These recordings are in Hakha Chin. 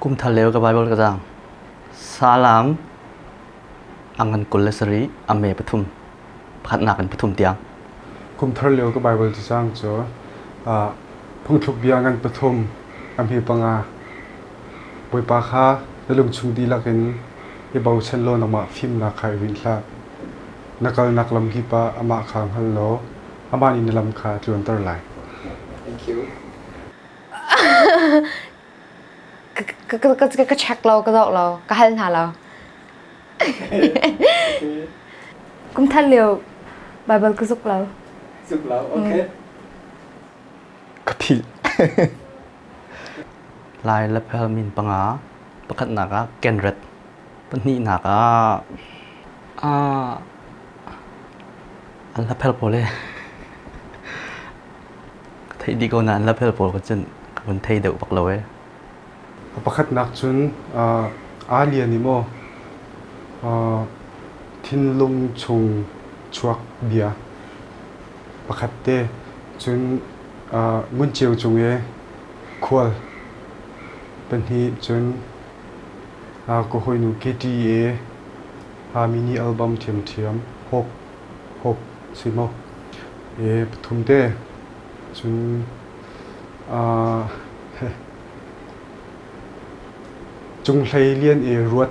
Kumthar lio ka Bible ka zaang. Salam ang ngan kul le sarih a me pathum pakhatnak in pathum tiang. Kumthar lio ka Bible cu zaang cu phungthluk bia ngan pathum a hme panga. Bawipa kha na lungchung dihlak in i bochan law nangmah fimnak kha i rinh hlah. Na kalnak lam kip ah amah kha hngal law amah nih na lam kha a tluanter lai. Thank you. ka check lo ka zoh lo ka hal hna lo kumthan lio bible ka zuk lo zuk lo okay ka thil lai la phel min panga pakhat nak ah kenret Pahnihnak ah ah an hlaphel pawl hi ka theih dih ko nain hlaphel pawl ka cun ka vun thei deuh bak lo ee. Pakhatnak cun aa lian i maw thinlung chung chuak bia pakhat te cun ngun ceu cung i khual pahnih cun ka hawinu Katie-i mi nih album ṭhiamṭhiam Hope Hope si maw pathum te cun cung hlei lian i ruat.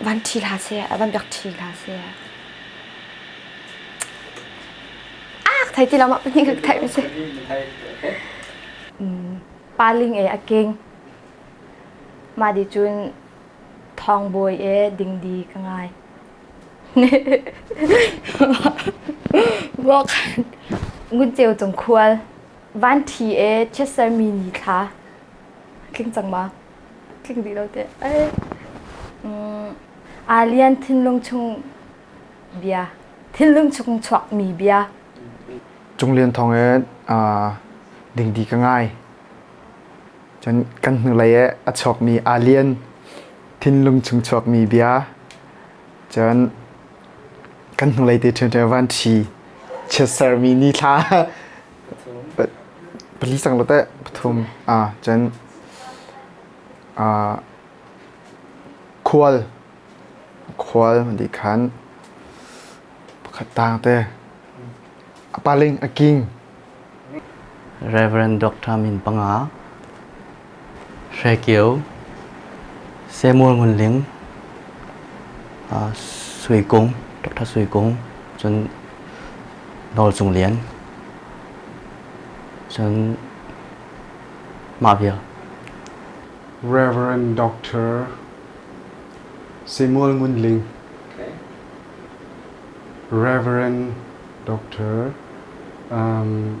van ṭhi hlah seh, van biak ṭhi hlah seh. Ak thai ti lo ma pahnih ka thai va seh. Paling e a keng. Ma di cun thong bawi e dingdi ka ngai. Wok ngun ceu cung khual. Van ṭhi e chiat sermi ni thla. Tling cang ma? tling dih lo teh. Ai, mm, aa lian thinlung chung bia, thinlung chung chuakmi bia. Cung Lian thawng e dingdi ka ngai. Cun kan hnulei e a chuakmi aa lian thinlung chung chuakmi bia. Cun kan hnulei te ṭhianṭhian van ṭhi chiat sermi ni thla Pali cang la teh pathum aa chen. Aa khual khual di khan pakhat tang te a paling a king. Reverend Dr. Min Panga Hre Kio, Samuel Ngun Ling, Sui Kung, Dr. Sui Kung, cun Nawl Cung Lian, cun mah vial. Reverend Dr. Samuel Ngun Ling, okay. Reverend Dr. Um,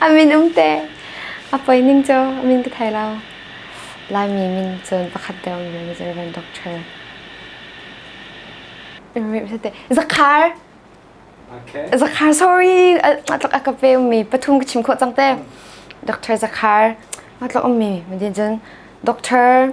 A min um te. A poi ning cu a min ka thei lo. Laimi min cun pakhat deuh min cu Reverend Doctor. Zakhar. Okay. Zakhar sorry. Matlak aka pe mi pathum ka chim kho cang te. Dr. Zakhar. Matlak um mi. Madin cun Doctor.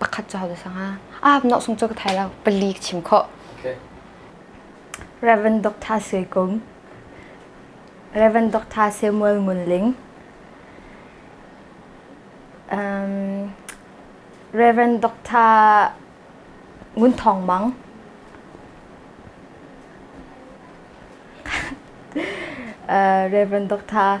pakhat cauk za sang ah nok sung cu ka thai lo pali ka chim khawh Reverend Dr. Sui Kum Reverend Dr. Samuel Ngun Ling um, Reverend Dr. Ngun Thong Mang uh, Reverend Dr.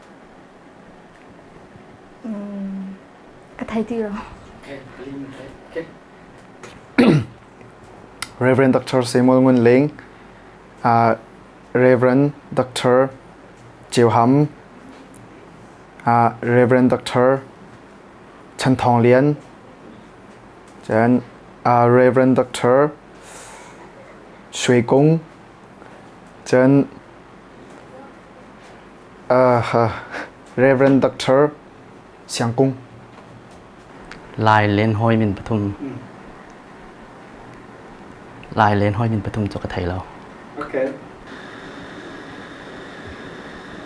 ka thei ti lo. Reverend Dr. Samuel Ngun Ling, uh, Reverend Dr. Cheu Ham, uh, Reverend Dr. Chan Thong Lian, then uh, Reverend Dr. Shui Kung, then Reverend Doctor Siang Kung. Lai len hoi min pathum. Lai len hoi min pathum cu ka thei lo. Okay.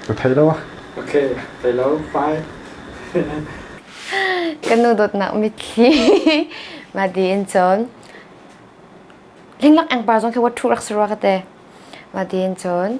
Ka thei lo ah. Okay, thei lo. Bye. Kanu dot na mitthli ma di in chon. Linglak angpar zong ke wat thu rak sarwa ka te. Ma di in chon.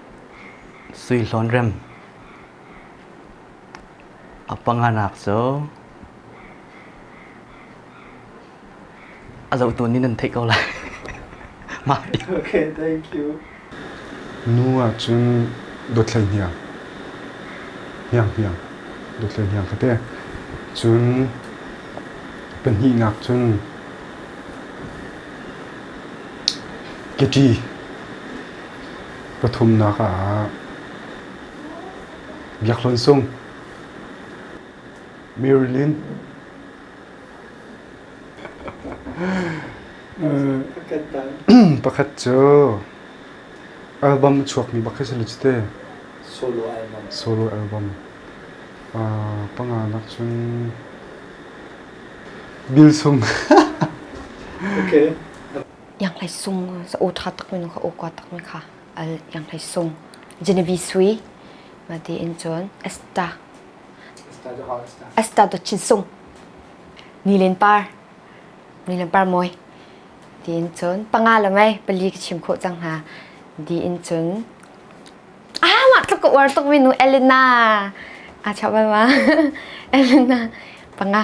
Suihlawn rem a panganak cu a zohtu nih nan theih ko lai. Mah Okay, thank you. Nu ahcun dawthlei hniang hniang hniang dawthlei hniang ka te cun pahnihnak cun keti Pathumnak ah Biakhlon Sung, Marilyn. pakhat cu album chuakmi pakhat si cu te. Solo album. Solo album. Uh, panga nak cun Bill Sung. okay. Ianghlei sung sa aw ṭha takmi nu kha aw kua takmi kha al ianghlei sung Genevi sui ma ti in cun Esta Esta do Chin Sung Nilen Par Nilen Par Mawi ti in cun panga le mei pali ka chim khawh cang hna di in cun ah mah tluk ka uar tukmi nu Elena aa chap ma Elena panga